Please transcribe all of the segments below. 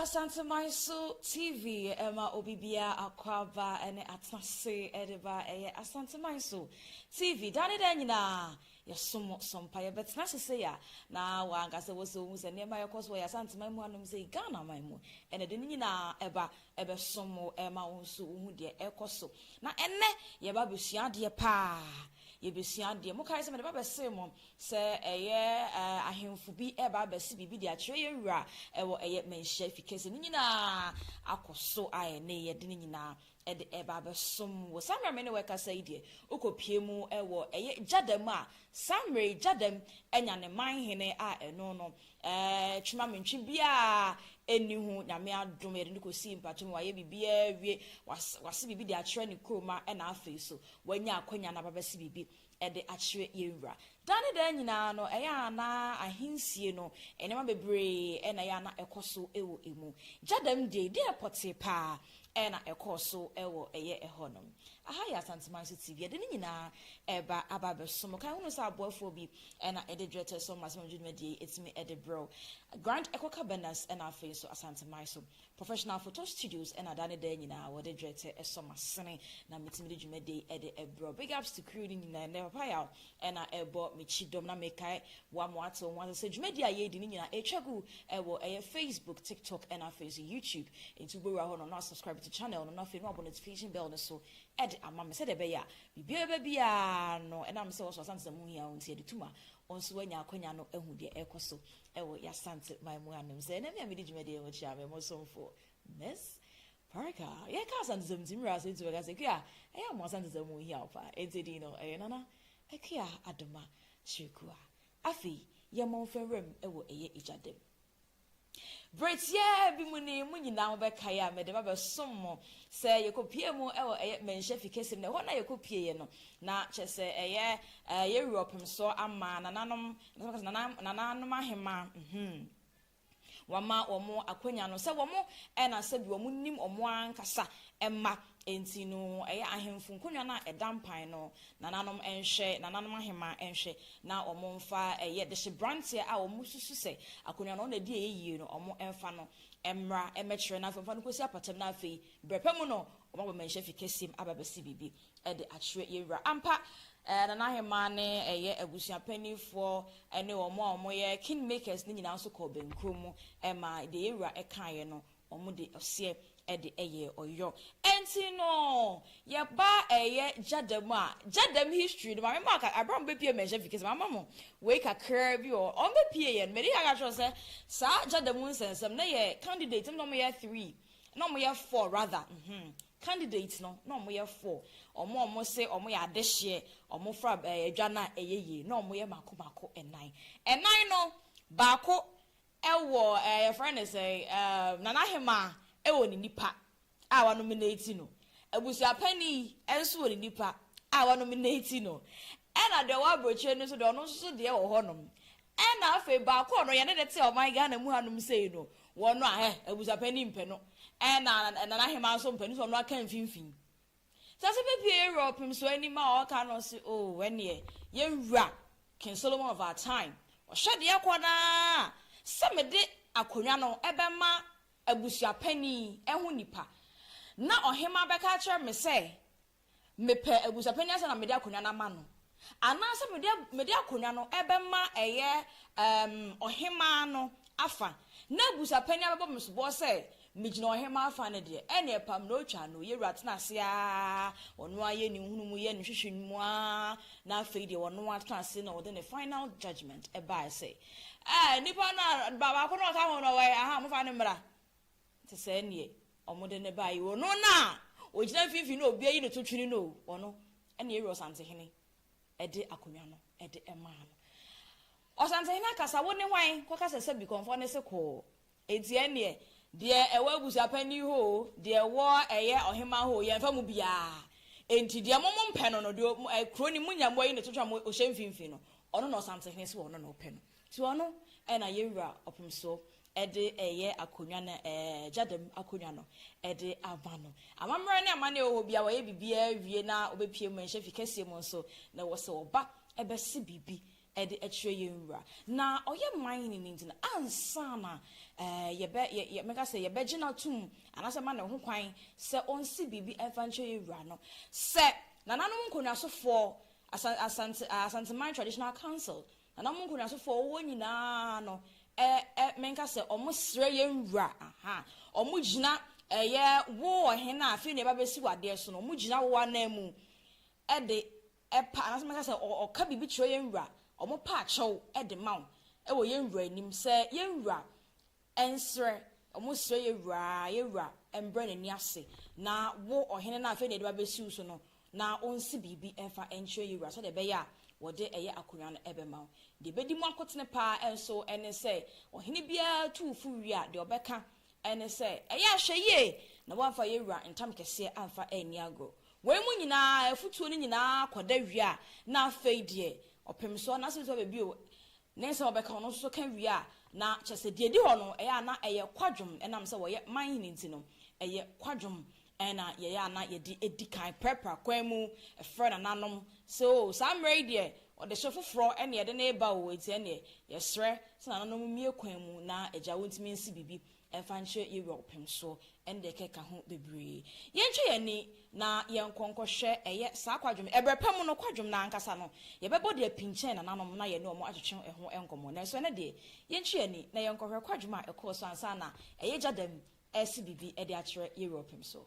Asanteman so TV ɛma obi biara akɔ aba ɛne atase ɛde ba ɛyɛ Asanteman so TV dane dɛ nyinaa Yɛsom mo, so mpa yɛ bɛtena ase sei a, na wo ankasa wɔ sɛ wohu sɛ nneɛma ɛkɔ so wɔ yɛ Asante man mu hanom sei, Ghana man mu, ɛna de ne nyinaa ɛba ɛbɛsom wo, ɛma wo nso wohu deɛ ɛkɔ so. Na ɛnnɛ, yɛba abɛsua adeɛ paa, yɛbɛsua adeɛ. Mo kae sɛ mede ba bɛsee mo sɛ ɛyɛ ahemfo bi ɛba abɛse biribi de akyerɛ yɛn wura ɛwɔ ɛyɛ manhyia fi kɛse no nyinaa akɔ so a ɛne yɛde ne nyinaa Ɛde ɛba abɛsom wo. Saa mmerɛ a me ne wo rekasa yi deɛ, wokɔpue mu wɔ ɛyɛ gyada mu a, saa mmerɛ yi gyada anya ne manhene a ɛno no, twemamintwe biara nni ho. Nyame adom, yɛde no kɔsii mpata mu, wayɛ biribiara awie, wase biribi de akyerɛ ne kuromma na afei nso wanya akwanya no aba abɛse biribi de akyerɛ yɛn Wura. Daa ne daa nyinaa no, ɛyɛ a na ahensie no, nneɛma bebree na ɛyɛ a na ɛkɔ so wɔ ɛmu. Gya dɛm deɛ yi, deɛ pɔtee pa ara na ɛkɔɔ so wɔ ɛyɛ ɛhɔnom. Aha yɛ Asanteman so TV. Yɛde ne nyinaa reba aba abɛso mo. Kan hunu sɛ aboafoɔ bi na ɛde Dwetɛ Som Asɛmdwomadwumadie yi atumi de brɛ wo. Grand Ecocabanas na afei nso Asanteman so Professional photo studios na da ne da nyinaa wɔde dwetɛ sɔ m'asene na metumi de dwumadi de brɛ wo. Big ups to crew no nyinaa, ɛnnɛ Papa Yaw na ɛrebɔ me kyidɔm na mekae wo ama woate wo ho ase sɛ dwumadi a yɛredi no nyinaa ɛretwa gu wɔ ɛyɛ Facebook, TikTok na afei nso YouTube. Enti wobɛwura hɔ no na subscribe to channel no na afei na wabɔ notification bell no so de ama me sɛdeɛ ɛbɛyɛ a biribiara ɛbɛba biara no ɛnam sɛ wo nso Asante sɛ mu hia wo nti ɛde tu ma wo nso woanya akwanya no ahu deɛ ɛrekɔ so wɔ Y'Asante man mu anom sɛ na me a medi dwumadie ho kyerɛ a me mo somfo Miss Parker. Yɛka Asantesɛm nti mmerɛ a so ntumi ka sɛ Kua ɛyɛ a mo Asantesɛm mu hia wo paa enti din no ɛyɛ Nana Akua Adoma Kyerɛkua. Afei yɛ Mɔmfa nwuram wɔ ɛyɛ Egya dam. Berɛ tiaa bi mu ni mo nyinaa mo bɛ kae a mede ba bɛ som mo sɛ yɛ kɔ pie mu wɔ ɛyɛ Manhyia fi kɛseɛ mu na ɛhɔ na yɛ kɔ pie yɛ no na kyɛsɛ ɛyɛ yɛ wura ɔpemsoɔ ama Nananom Nananom ahemmaa, mm-hmm, wɔama wɔn akwanya no sɛ wɔn ɛna sɛbi wɔn nim wɔn ankasa mma, enti no ɛyɛ ahemfo nkonnwa no a ɛda mpan no nananom nhwɛ, nananom ahemmaa nhwɛ na wɔn mfa ɛyɛ dehyeberanteɛ a wɔn susu sɛ akwannwa no ɔno na ɛdi ɛyɛ yie no wɔn mfa no mmra mmɛkyerɛ na afei wɔmfa no nkɔsi apatam na afei berɛpa mu no wɔn aba manhyɛfi kɛseɛ mu aba abɛsi biribi. de akyerɛ yɛn Wura. Ampa, Nana Ahemaa ne ɛyɛ abusua panimfoɔ ne wɔn a wɔyɛ king makers no nyinaa nso kɔɔ bɛnkuro mu maa deɛ yɛn Wura kaeɛ no, wɔde ɔseɛ de yɛɛ ɔyɔ. Ɛnti no, yɛba ɛyɛ Gyadam a, Gyadam history no, Maame Mark, berɛ a wɔbɛpue mmɛnhyɛ fi kɛse, mama mo wei kakraa bi wɔ hɔ. Wɔbɛpueɛ no, medi kan ka kyerɛ wo sɛ, saa Gyadam nsɛnsɛm, na yɛ candidate, na wɔyɛ three, na wɔyɛ four rather, mm-hmm. Candidates no na ɔmo yɛ four, ɔmo a ɔmo se ɔmo yɛ adehyeɛ, ɔmo fra adwa no a ɛyɛ yie na ɔmo yɛ mako mako nnan. Nnan no baako wɔ ɛɛ yɛfrɛ no sɛn ɛɛ Nana Ahemaa wɔ ne nipa a wa nominate no, abusuapani nso wɔ ne nipa a wa nominate no, ɛna deɛ ɔwɔ abrokyire no nso deɛ ɔno nso so deɛ wɔ hɔ nom, Ɛna afei baako a ɔno yɛne no te ɔman Ghana mu hanom sei no, wɔn no a hɛ, abusapɛn ni mpɛ no. Ɛna Nana Ahemaa nso mpɛ no nti ɔno aka mfimfin. Nti ɔse bɛbue yɛn wura ɔpem so anim a ɔka no ɔse oh ɛneɛ yɛn wura King Solomon of our time ɔhwɛ deɛ ɛkɔ no ara sɛ mede akonwa no ɛbɛma abusuapɛn yi ho nipa na ɔhemaa bɛka akyerɛ me sɛ mepɛ abusuapanyin ansa na mede akonnwa no ama no, anaasɛ mede mede akonnwa no bɛma ɛyɛ um, ɔhemaa no afa, na abusuapanyin abɛbɔ me soboɔ sɛ megyina ɔhemaa afa no deɛ, ɛneɛ pam na ɔtwa no, yɛwura tena ase ara, ɔno ara yɛ ne nhunumu, yɛ ne hwehwɛ no mu ara, na afei deɛ ɔno ara tena ase na ɔde ne final judgment ɛbaeɛ sɛ, eh, nipa no a baako no ɔka ho no, ɔwɔ he? Aha, mofa no mmra. te sɛ neɛ wɔde no baeɛ o, ɔno no a ɔgyina mfimfini no a obiara yi ne to twene no o, ɔno na yɛwura Ɔsantehene de akonnwa no de maa no. Ɔsantehene akasa, wo ne hwan? Kɔka sɛ sɛ Bikɔmfoɔ no se kɔɔ. Enti ɛnneɛ, deɛ ɛwɔ abusuapanin hɔ o, deɛ ɛwɔ ɛyɛ ɔhemaa hɔ o, yɛmfa mu biara. Enti deɛ mo mompɛ no no, deɛ kuro no munya moayi ne to twene a ɔhyɛ mfimfini no, ɔno na Ɔsantehene se ɔno na ɔpɛ no. Toa no na yɛn Wura ɔpem so de ɛyɛ akonwa no ɛɛ gyadam akonwa no de ama no. Amammerɛ ne amanneɛ wɔ hɔ biara wɔyɛ biribiara wie na wɔbɛpue mmarahyɛ fi kɛseɛ mu nso na ɛwɔ sɛ wɔba bɛse biribi de kyerɛ yɛn Wura na ɔyɛ man no nti no ansa na ɛɛ yɛbɛ yɛ yɛ mɛka sɛ yɛbɛgye no atom anaasɛ ma no ho kwan sɛ ɔnse biribi mfa nkyerɛ yɛn Wura no sɛ Nananom Nkonnwasofoɔ Asante Asanteman Traditional Council Na na ɔmo nkonyasofoɔ a wɔwɔ nyinaa no ɛ ɛ menka sɛ ɔmo srɛ yɛn wura aha ɔmo gyina ɛ yɛ wo ɔhene a afei na yɛba bɛsi wo adeɛ so no ɔmo gyina wo anan mu ɛ de ɛ pa anaasɛ menka sɛ ɔ ɔka biribi kyerɛ yɛn wura ɔmo pa akyɛw ɛ de ma wo ɛ wɔ yɛn wura anim sɛ yɛn wura Ɛnsrɛ, wɔsrɛ yɛn wura, yɛn wura, ɛmbrɛ n'ani ase, na wo, ɔhene no a afei na yɛde wo abɛsi wo so no, na ɔnsi biribi mfa nkyerɛ yɛn wura, sɛdeɛ ɛbɛyɛ a wɔde ɛyɛ akonnwa no bɛma wo. Deɛ ɛbɛdi mu akotene pa ara nso ne sɛ, ɔhene biara tu wo fo wie a, deɛ ɔbɛka ne sɛ, Ɛyɛ a hwɛ yie na woamfa yɛn wura ntam kɛseɛ amfa anni agorɔ. Wei mu nyinaa, afutuo no nyinaa kɔda wie a, na afei deɛ, ɔpem so anaasɛ ɛbɛtumi aba bio, Ne sɛ wɔbɛka ɔno nso so ka wie a, na kyerɛ sɛ deɛ ɛdi hɔ no, ɛyɛ a na ɛyɛ kwadwom ɛnam sɛ wɔyɛ man hene nti no, ɛyɛ kwadwom na yɛyɛ a na yɛde di kan prapra kwan mu frɛ nananom sɛ o, saa mmerɛ yi deɛ ɔdehye foforɔ na yɛde no reba o, enti ɛnneɛ yɛsrɛ sɛ nananom mmue kwan mu na agya wontumi nsi biribi Ɛmfa nkyerɛ yɛawura ɔpem so, ɛnde ɛkeka ho bebree. Yɛntwe yɛn ani na yɛnkɔ nkɔhwɛ ɛyɛ saa kwadwom ɛberɛ pa mu no, kwadwom no ara ankasa no, yɛbɛbɔ de api nkyɛn nananom na yɛne wɔn atwetwe ɛho nkɔmmɔ. Nanso ɛnnɛ deɛ, yɛntwe yɛn ani na yɛnkɔhwɛ kwadwom a ɛkɔɔ so ansa na ɛyɛ gya dam resi biribi de akyerɛ yɛawura ɔpem so.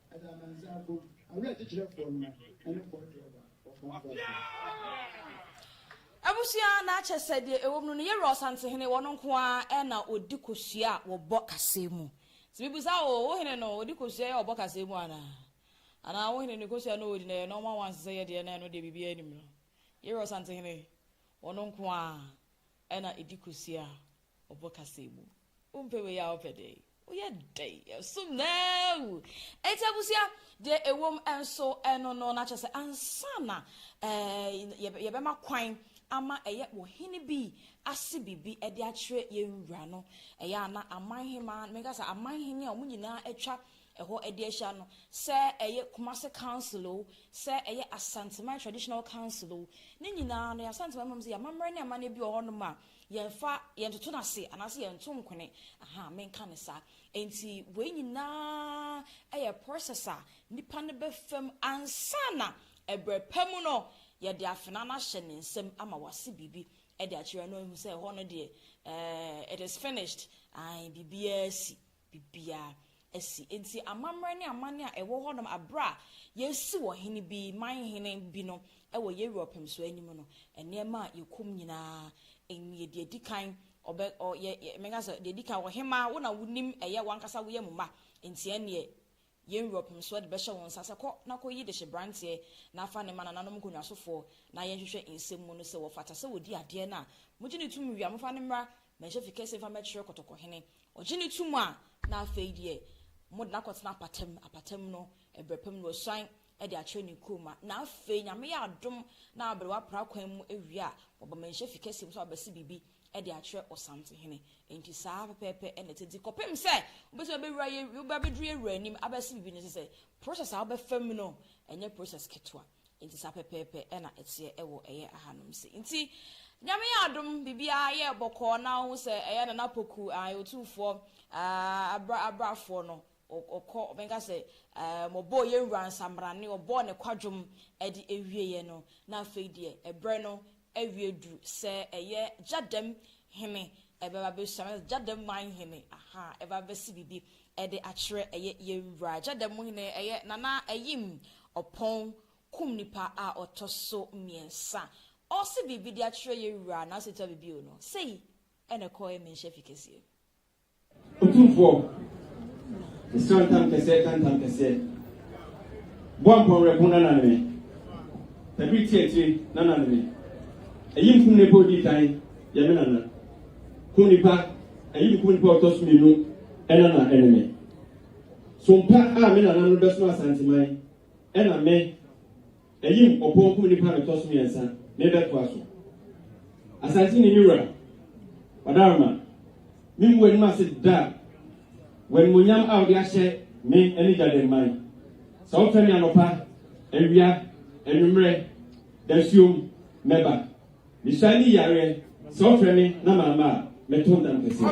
Ɛda amansan mpo awerɛkyekyerɛfoɔ no ne fɔɔ Jehovah wɔ Francois. Abusua na akyɛ sɛ deɛ ɛwɔ mu no ne yɛwura Ɔsantehene ɔno nko ara na ɔdi kosua a wɔbɔ kaseɛ mu. Nti mebisa wo, wo hene no ɔdi kosua a wɔbɔ kaseɛ mu anaa? Anaa wo hene no kosua no a ɔdi no ɛyɛ nɔɔma wo ansa sɛ yɛ deɛ na ɛno deɛ biribiara nnim no? Yɛwura Ɔsantehene ɔno nko ara na ɛdi kosua a ɔbɔ kasa yi mu. Wompɛ wei a wopɛ dɛn? Woyɛ dɛn? Yɛsom no awu. Enti abusua, deɛ ɛwom nso ɛno no, na kyerɛ sɛ ansa na ɛɛ yɛbɛma kwan ama ɛyɛ ɔhene bi ase biribi de akyerɛ yɛn wura no, ɛyɛ a na aman hemaa, meka sɛ aman hene a wɔn nyinaa atwa ɛhɔ de ahyia no, sɛ ɛyɛ Kumase Council o, sɛ ɛyɛ Asanteman Traditional Council o, ne nyinaa no, yɛ Asanteman mmom sɛ yɛamammerɛ ne amane bi wɔ hɔnom a, Yɛmfa, yɛntoto no ase anaasɛ yɛnto nkwene, ahaa, menka no saa. Enti wei nyinaa yɛ process a nipa no bɛfa mu ansa na ɛberɛ pa mu no yɛde afenaa no ahyɛ ne nsam ama wase biribi de akyerɛ no ahu sɛ ɛhɔ no deɛ, eh, it is finished, ae, biribiara asi. biribiara asi. Enti amammerɛ ne amanne a ɛwɔ hɔnom bere a yɛresiw ɔhene bi, man hene bi no wɔ Europe nso anim no, nneɛma a yekum nyinaa, nea nea edi kan, ɔbɛ, ɔ, yɛ, yɛ, mɛka sɛ, nea edi kan, ɔhemmaa, wo na wunim, ɛyɛ w'ankasa, woyɛ mo mma, enti ɛnneɛ, Europe nso de bɛhyɛ wo nsa sɛ kɔ na kɔyi dehyeberanteɛ na fa no ma nananom nkonnwasofoɔ na yɛnhwehwɛ nsɛm mu no sɛ wɔfata sɛ wɔdi adeɛ no a. Mogye no tom wie a, momfa no mmra Manhyɛfi Kɛseɛ mfa mmɛkyerɛ Kɔtɔkɔhene. Ɔgye no tom a, na afei deɛ mode no akɔtena apata mu. Apata mu no, ɛberɛ pa mu na wasuan de akyerɛ ne kurom a. Na afei, Nyame yɛ adom na aberewa pra kwan mu awie a, wɔba Manhyɛfi Kɛseɛ mu sɛ wɔabɛse biribi de akyerɛ Ɔsantehene. Enti saa ara pɛpɛɛpɛ na ɛte. Enti kɔpem sɛ wobɛtumi abɛwura yɛ, wobɛbɛduru yɛ Wura anim abɛse biribi no, ɛsɛ sɛ process a wobɛfa mu no, ɛnyɛ process ketewa. Enti saa pɛpɛɛpɛ na ɛteɛ wɔ ɛyɛ ahanom se. Enti Nyame yɛ adom, biribiara yɛɛ bɔkɔɔ na wohu sɛ ɛyɛ Nana Poku, ae, Otumfoɔ, ah, abra, abrafoɔ no, Ɔkɔ, ɔbɛka sɛ, Ɛɛ, wɔbɔɔ yɛn Wura nsammrane, wɔbɔɔ Ne kwadwom de awieeɛ no, na afei deɛ ɛberɛ no awie duru sɛ ɛyɛ gya dɛm hene ɛbɛba abɛsua, anaasɛ gya dɛm man hene, aha, ɛbɛba abɛsi biribi de akyerɛ ɛyɛ yɛn Wura. Gya dɛm hene, ɛyɛ Nana Ayim Ɔpɔn kum nipa a ɔtɔ so mmiɛnsa. Ɔrese biribi de akyerɛ yɛn Wura, nanso ɛtua biribi o, no. Sei na ɛkɔɔɛ Manhyia Fi Kɛseɛ. Otumfoɔ, mesrɛ ntam kɛseɛ ka ntam kɛseɛ Boa mpɔnwerɛko na nane me Tabiri ti akyire na nane me Ayi nkum nnipa ɔdii kan yɛ me nana Kum nnipa ayi nkum nnipa ɔtɔ so mmienu ɛna na ɛne me Sompa a me nananom bɛsom Asanteman ɛna me Ayim ɔpɔn kum nipa no tɔ so miɛnsa me bɛ toa so asante ni me wura ɔdaroma me mu w'anim ase da w'animonyam a ɔde ahyɛ me ɛne gyaden man sɛ ɔfɛ me anɔpa awia anwummerɛ dasuom mɛba. Mehyia ne yareɛ, sɛ ɔfrɛ me na mamma a, mɛtɔ ndam kɛseɛ.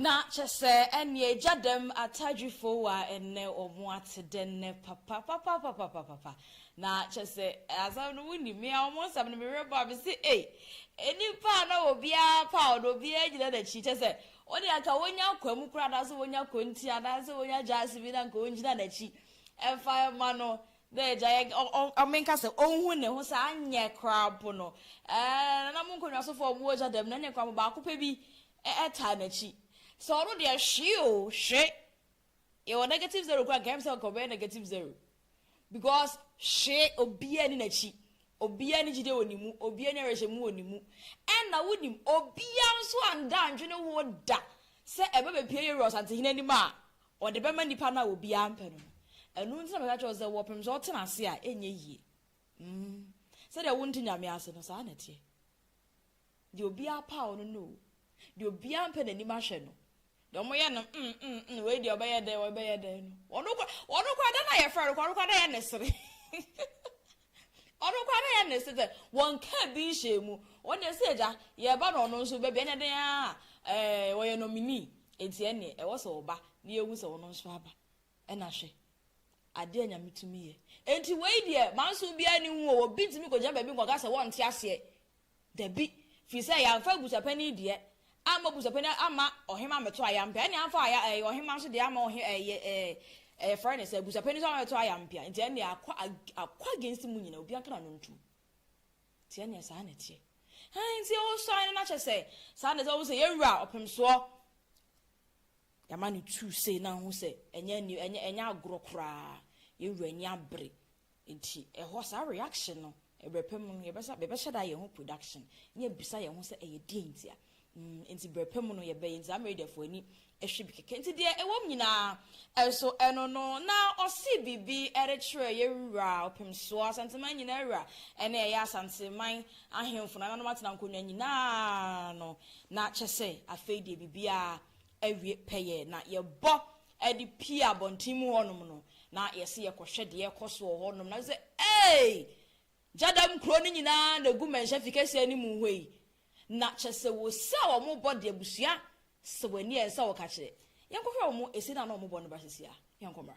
Na kyɛ sɛ ɛnneɛ agya dɛm atadwifo a ɛnnɛ wɔn ate dɛ nnɛ papa papa papa papa pa na kyɛ sɛ asɛm no wonim me a wɔn nsɛm no mehwɛ bɔ a mese ei nnipa a na obiara pa a ɔno obiara gyina n'akyi kyɛ sɛ wɔde anka wɔnya akwa mu koraa anaasɛ wɔnya kɔnti anaasɛ wɔnya gyaase bi na anka wɔngyina n'akyi ɛmfa ɛma no Dɛ egya yɛ ɔ ɔ ɔ menka sɛ onhu ne ho sɛ anyɛ koraa mpo no ɛɛ nananom nkɔnwasofo a wɔwɔ gya dɛm no ɛneɛ koraa mpo baako pɛ bi ɛ taa n'akyi. Sɛ ɔno deɛ hwee o hwe yɛwɔ negative zero koraa nka ɛm sɛ nka ɔbɛyɛ negative zero because hwee obiaa nni n'akyi obiaa nni gyidie wɔ ne mu obiaa nni awerɛhyɛmu wɔ ne mu ɛna wonim obiaa nso annda anndwene ho da sɛ ɛbɛbɛpie Yeru Asantehene anim a Ɔde bɛma nnipa no a obiara mpɛ no no. Ɛno nti na meka kyerɛ wo sɛ, wɔpem sɛ ɔtena ase a, ɛnyɛ yie. Mm, sɛdeɛ wonte Nyame ase no, saa na ɛteɛ. Deɛ obiara paw no no o, deɛ obiara mpɛ n'anim ahwɛ no, deɛ wɔyɛ no mm, mm, mm, wei deɛ ɔbɛyɛ dɛn, ɔbɛyɛ dɛn no, ɔno koraa, ɔno koraa, da no a yɛfrɛ no koraa, ɔno koraa na ɛyɛ ne sere. Ɔno koraa na ɛyɛ ne se sɛ wɔnkaa bi nhyɛɛ mu. Wɔn deɛ sɛ agya yɛreba na ɔno nso bɛba ɛnɛ dɛn ara a ɛɛ ɔyɛ nominee enti ɛneɛ ɛwɔ sɛ ɔba na yɛhu sɛ ɔno nso aba. Ɛna hwɛ adeɛ a Nyame tumi yɛ. Enti wei deɛ manso biara nni ho o, obi ntumi kɔgyina baabi nkɔka sɛ wɔnte aseɛ Dabi, firi sɛ yɛamfa abusuapanin deɛ amma abusuapanin amma ɔhemma ammɛto ayampea, ɛnneɛ amfa aya ɛɛ ɔhemma nso deɛ amma ɔhe ɛɛ yɛ ɛɛ ɛyɛfrɛ no sɛ abusuapanin nso amma ammɛto ayampea, nti ɛnneɛ akɔ ag akɔ against mo nyinaa, obiara nka n'ano ntom. Nti ɛnneɛ saa na ɛteɛ. Hann, nti o sign no na kyerɛ sɛ saa na ɛsɛ, wohu sɛ yɛn wura ɔpemsoɔ, yɛama no tuu sei na ho sɛ ɛnyɛ new ɛnyɛ ɛnyɛ agorɔ koraa, yɛn wura ani abere, Enti ɛhɔ saa reaction no ɛbrɛ pa mu no yɛbɛsa bɛbɛhyɛ da ayɛ ho production ne abisa yɛn ho sɛ ɛyɛ deɛn ntia mm enti brɛ pa mu no yɛbɛyɛ enti saa Meridiafoɔ ani hwɛ bi kɛkɛ enti deɛ ɛwɔ mu nyinaa ɛnso ɛno no na ɔsii biribi ɛde kyerɛ yɛn wura ɔpemsoɔ Asanteman nyinaa wura ɛne ɛyɛ Asanteman ahemfo nananom atena nkonnwa nyinaa no na kyɛ sɛ afei deɛ biribiara awie pɛyɛ na yɛbɔ de pue abɔnten mu hɔnom no, na yɛse yɛkɔhwɛ deɛ ɛrekɔ so wɔ hɔnom, na yɛse, Eei! Gyadam kuro no nyinaa na ɛgu mmɛnhyɛ fi kɛseɛ no mu hɔ yi. Na kyerɛ sɛ wɔsi a wɔbɔ deɛ abusua sɛ wɔn ani ɛnsɛ a wɔka kyerɛ. Yɛnkɔhwɛ wɔn ɛsi no a na wɔbɔ no ba seesei a. Yɛnkɔ mmra.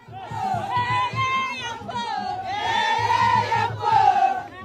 Eei! Yɛnkɔ o! Eei! Yɛnkɔ o!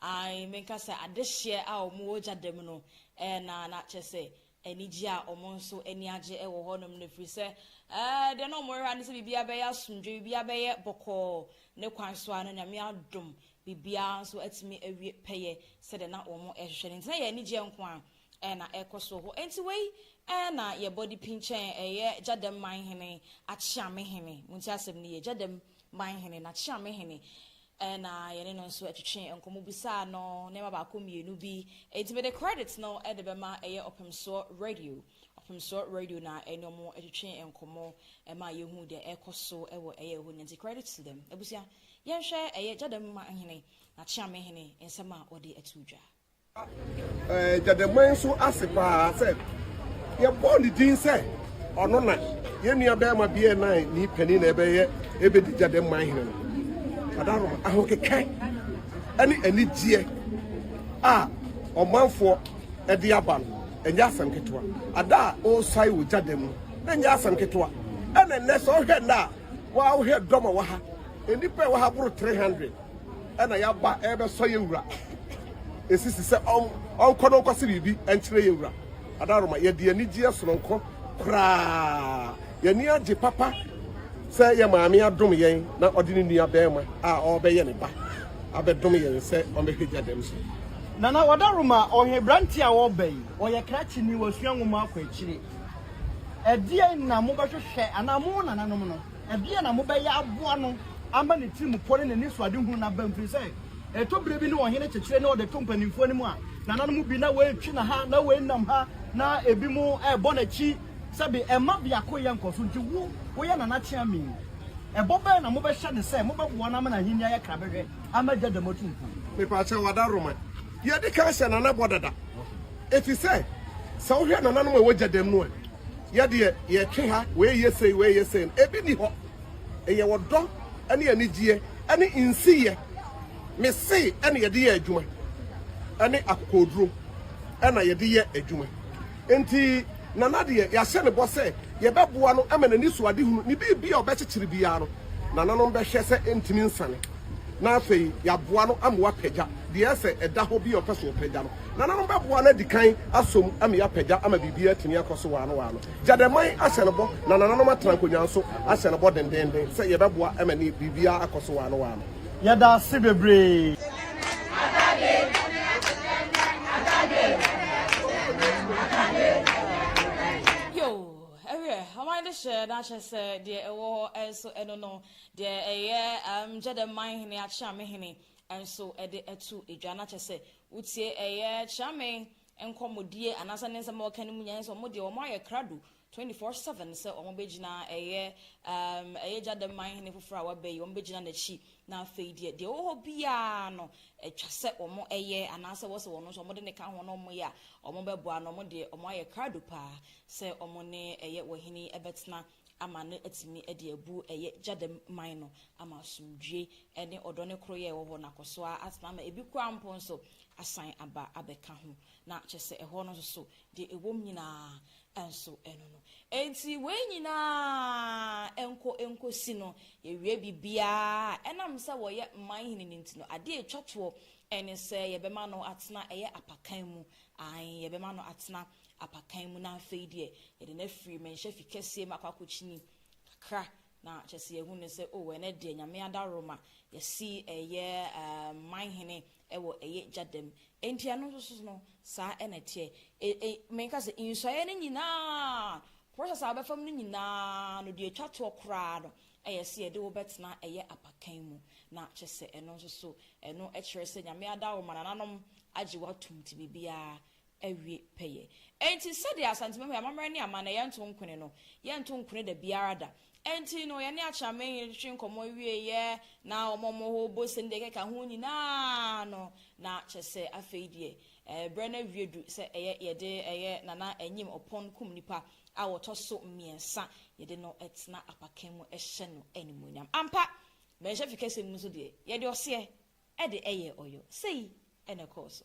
Ae, menka sɛ adehyeɛ a wɔn wɔ gya da mu no ɛɛ na na kyerɛ sɛ anigyeɛ a wɔn nso ani agye wɔ hɔ nom no ɛfiri sɛ ɛɛ deɛ na wɔn rehwɛ ara ne sɛ biribiara bɛyɛ asomdwoeɛ, biribiara bɛyɛ bɔkɔɔ, ne kwan so ara no Nyame adom biribiara nso atumi awie pɛyɛ sɛdeɛ na wɔn rehwehwɛ no nti na ɛyɛ anigyeɛ nko ara ɛɛ na ɛrekɔ so wɔ hɔ ɛnti wei ɛɛ na yɛ body pinkyɛn ɛyɛ gya dam man hene Akyeame hene, montie asɛm no yie, gya dam man hene na Akyeame hene Ɛna yɛne no nso twetwe nkɔmmɔ bisaa no nneɛma baako mmienu bi. Enti mede credit no de bɛma ɛyɛ Ɔpemsoɔ Radio. Ɔpemsoɔ Radio na ɛne wɔn twetwe nkɔmmɔ ma yɛhuu deɛ ɛrekɔ so wɔ ɛyɛ hɔ nyinaa. Nti credit to them. Abusua, yɛnhwɛ ɛyɛ Gya Dam Mma Hene, N'akyeame Hene, nsɛm a ɔde ato dwa. Gyademan nso ase paa sɛ yɛbɔɔ ne din sɛ ɔno na yɛn nua bɛrima Bear Nine ne panin na ɛbɛyɛ ɛbɛdi Gyademan hene no. Kadaroma ahokeka ne anigyeɛ a ɔmanfoɔ de aba no ɛnyɛ asɛm ketewa. Ada a ɔresae wɔ Gyadam no ɛnyɛ asɛm ketewa. Ɛna nnɛ sɛ ɔhwɛ nnɛ a wɔahwɛ dɔm a wɔ ha nnipa a ɛwɔ ha boro 300. na yɛaba rebɛsɔ yɛn wura. Esisi sɛ ɔnkɔ na ɔnkɔse biribi nkyerɛ yɛn wura. Adaroma, yɛde anigyeɛ sononko koraa. Yɛn ani agye papa sɛ yɛn maame adom yɛn na ɔde ne nua barima a ɔrebɛyɛ ne ba abɛdom yɛn sɛ ɔmmɛhwɛ gya dɛm so. Nana Wadaroma, ɔyɛ aberanteɛ a ɔreba yi. Ɔyɛ krakyeni, wasua nwoma akɔ akyire. Ɛdeɛn na mobɛhwehwɛ anaa mo nananom no? Ɛdeɛn na mobɛyɛ aboa no ama ne tirimupɔ ne n'anisoadehunu no aba? Ɛfiri sɛ, ɛtɔ berɛ bi na ɔhene kyekyere na ɔde to mpanimfoɔ no mu a, nananom mu bi na wɔretwe no ha na wɔrenam ha, na ebinom rebɔ n'akyi. Sɛbe, ɛmma biako yɛ nkɔ so. Enti wo, woyɛ nana Kyeame yi, ɛbɔ bɛn na mobɛhyɛ no sɛ mobɛboa no ama n'ahennie ayɛ krabɛhwɛ ama Gya Dɛm Atumfoɔ? Mepaakyɛw, Adaroma, yɛadi kan hyɛ nana bɔ dada. Efisɛ sɛ wohwɛ nananom a ɛwɔ gya dɛm no a, yɛ deɛ, yɛtwe ha, wei yɛ sei, wei yɛ sei no, ebi nni hɔ. Ɛyɛ ɔdɔ ne anigyeɛ ne nsiyɛ, me se, na yɛde yɛ adwuma, ne akokoɔduro na yɛde yɛ adwuma. Enti Nana deɛ, yɛahyɛ ne bɔ sɛ yɛbɛboa no ma n'anisoadehunu ne biribi a ɔbɛkyekyere biara no, nananom bɛhwɛ sɛ ɛntumi nsane. na afei yɛaboa no ama wapagya deɛ ɛsɛ sɛ ɛda hɔ bi a ɔpɛ sɛ ɔpagya no. Nananom bɛboa no adi kan asɔ mu ama yɛapagya ama biribiara atumi akɔ so waano waano. Gyadɛmman ahyɛ no bɔ na nananom atena nkonnwa nso ahyɛ no bɔ dendeenden sɛ yɛbɛboa ma ne biribiara akɔ so waano waano. Yɛda ase bebree. Yo, ɛwerɛ, ɔman no hyɛ na akyɛ sɛ deɛ ɛwɔ hɔ nso ɛno no Deɛ ɛyɛ ɛm gyɛ dɛ man hene akyeame hene nso de atu dwa na kyɛ sɛ wotie ɛyɛ kyeame nkɔmɔdie anaasɛ ne nsɛm a ɔka no mu nya sɛ wɔn deɛ wɔn ayɛ krado twenty four seven sɛ wɔn bɛgyina ɛyɛ ɛm ɛyɛ gya dɛ man hene foforɔ a waba yi wɔn bɛgyina n'akyi na afei deɛ deɛ ɛwɔ hɔ biara no ɛtwa sɛ wɔn ɛyɛ anaasɛ wɔsɛ wɔn nso wɔn de ne ka ho na wɔn yɛ a wɔn bɛboa no wɔn deɛ wɔn ayɛ krado paa sɛ wɔn ne ɛyɛ wɔhene yi ɛbɛtena ama no atumi de abu ɛyɛ gyadam man no ama asomdwoe ne ɔdɔ ne koroyɛ a ɛwɔ hɔ no akɔ so ara atena ama ebi koraa mpo nso asan aba abɛka ho. Na kyerɛ sɛ ɛhɔ no nso so, deɛ ɛwom nyinaa nso ɛno no. Enti wei nyinaa nkɔ nkɔsi no, yɛwie biribiara a, ɛnam sɛ wɔyɛ man hene no nti no, adeɛ a ɛtwa toɔ ne sɛ yɛbɛma no atena ɛyɛ apakan mu, aane, yɛbɛma no atena apakan mu na afei deɛ yɛde no afiri mmɛnhyɛ fi kɛseɛ mu akɔ akɔkyini kakra na kyɛ sɛ yɛhu no sɛ oh ɛnɛ deɛ nyame adaworoma yɛsi ɛyɛ um, manhene ɛwɔ ɛyɛ gya dam enti ɛno nso so no saa ɛna teɛ e, e, menka sɛ nsuaeɛ no nyinaa process a wobɛfam no nyinaa no deɛ ɛtwa toɔ koraa no ɛyɛ sɛ yɛde wobɛtena ɛyɛ apakan mu na kyɛ sɛ ɛno nso so ɛno ɛkyerɛ sɛ nyame adaworoma nananom agye woatom nti biribiara awie pɛyɛ. Enti sɛdeɛ Asantemanmu amammerɛ ne amanneɛ yɛnto nkwene no, yɛnto nkwene da biara da. Enti no, yɛne Akyerɛman hene twetwe nkɔmmɔ wieeɛ, na wɔma wɔn hɔ bɔ se ne deɛ ɛkeka ho nyinaa no, na kyerɛ sɛ afei deɛ berɛ no awie du sɛ ɛyɛ yɛde ɛyɛ Nana Anyim Ɔpɔn Kum Nipa a wɔtɔ so mmiɛnsa, yɛde no tena apakan mu hyɛ no animuonyam. Ampa, Mmarahyɛfikasɛm mu nso deɛ, yɛde ɔseɛ de yɛɛ ɔyɔ. Sei na ɛkɔɔ so.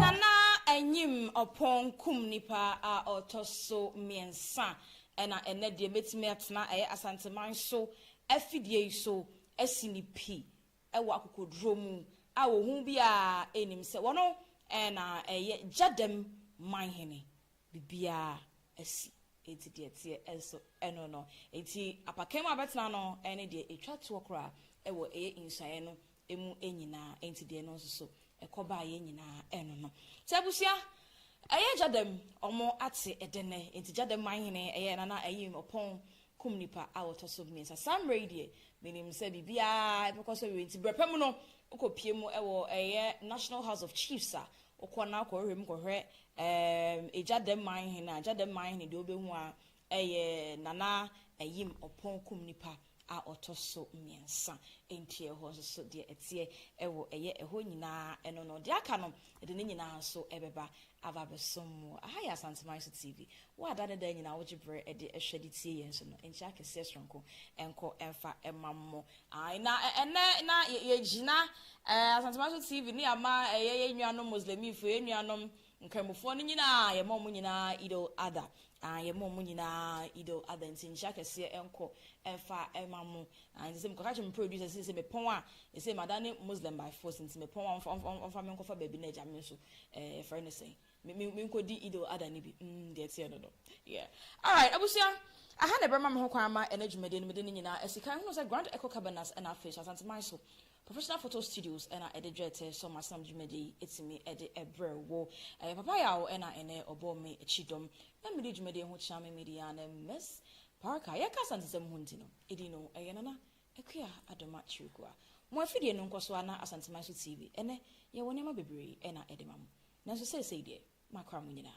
Nana Anyim Oppong kum nipa a ɔtɔ so mmiɛnsa Ɛna ɛnnɛ deɛ mɛtumi atena ɛyɛ Asanteman so afidie yi so asi ne pi wɔ akokoduro mu a ohu biara nnim sɛ wɔno na ɛyɛ Gyadɛm Manhene. Biribiara asi enti deɛ ɛteɛ nso ɛno no. Enti apakan mu a bɛtena no ɛne deɛ ɛtwa toɔ koraa wɔ ɛyɛ nsuaeɛ no emu nyinaa, enti deɛ no nso so ɛkɔ baa yɛn nyinaa ɛno no. Nti abusua, ɛyɛ gya dɛm, ɔmo ate ɛdɛ nnɛ, enti gya dɛm manhene ɛyɛ nana ayim ɔpɔn kum nipa a ɔtɔ so mmiɛnsa, saa mmerɛ yi deɛ menim sɛ biribiara ɛbɛkɔ so awie, nti brɛpɛ mu no wokɔ pie mu ɛwɔ ɛyɛ National House of Chiefs a, wokɔ na wokɔ hwehwɛ mu kɔhwɛ ɛɛm gya dɛm manhene a, gya dɛm manhene deɛ wobɛhu ara Ɛyɛ Nana Ayim Ɔpɔnkum nipa a ɔtɔ so mmiɛnsa. Ɛnti ɛhɔ nso so deɛ ɛteɛ ɛwɔ ɛyɛ ɛhɔ nyinaa ɛno no. Deɛ aka no yɛde ne nyinaa nso ɛbɛba aba abɛsom mo. Aha yɛ Asanteman so TV. Wo a da ne da nyinaa wogye berɛ ɛde ɛhwɛ de tie yɛn nso no, nkyea kɛseɛ soronko nkɔ ɛmfa ɛma mo. Ae na ɛnɛ na yɛgyina Asanteman so TV ne ama ɛyɛ yɛn nuanom Muslimifoɔ, yɛn nuanom Nkramofoɔ no nyinaa, yɛma wɔn nyinaa Eid al Adha, aah, yɛma wɔn nyinaa Eid al Adha, nti nhyira kɛseɛ nkɔ mfa mma mo, aah, nti sɛ mekɔka kyerɛ me producer sɛ sɛ mepɔn a, sɛsei madane Muslim by force, nti mepɔn a ɔmfa, ɔmfa, ɔmfa me nkɔfa baabi na agya me nso, eh, yɛfrɛ no sɛn, me, me, menkɔdi Eid al Adha no bi, mm, deɛ ɛteɛ no no, yeah. Alright, abusua, aha na ɛbɛma me ho kwan ama ɛnnɛ dwumadie no mede ne nyinaa asi kan, hunu sɛ Grand Echo Cabanas ɛna afei nso Asante man so Professional Photo Studios na ɛde dwetɛ sɔ m'asenam dwumadi yi atumi de brɛ wo. Ɛyɛ papa yaw na ɛnnɛ ɔbɔɔ me kyidɔm na mede dwumadi yi ho kyea me media ne Miss Parker. Yɛka Asantesɛm ho nti no, edin no ɛyɛ Nana Akua Adoma Kyirikua. Mo afidie no nkɔ so ara na Asanteman so TV. Ɛnnɛ yɛwɔ nneɛma bebree na ɛde ma mo. Nanso seesei deɛ, makora mo nyinaa.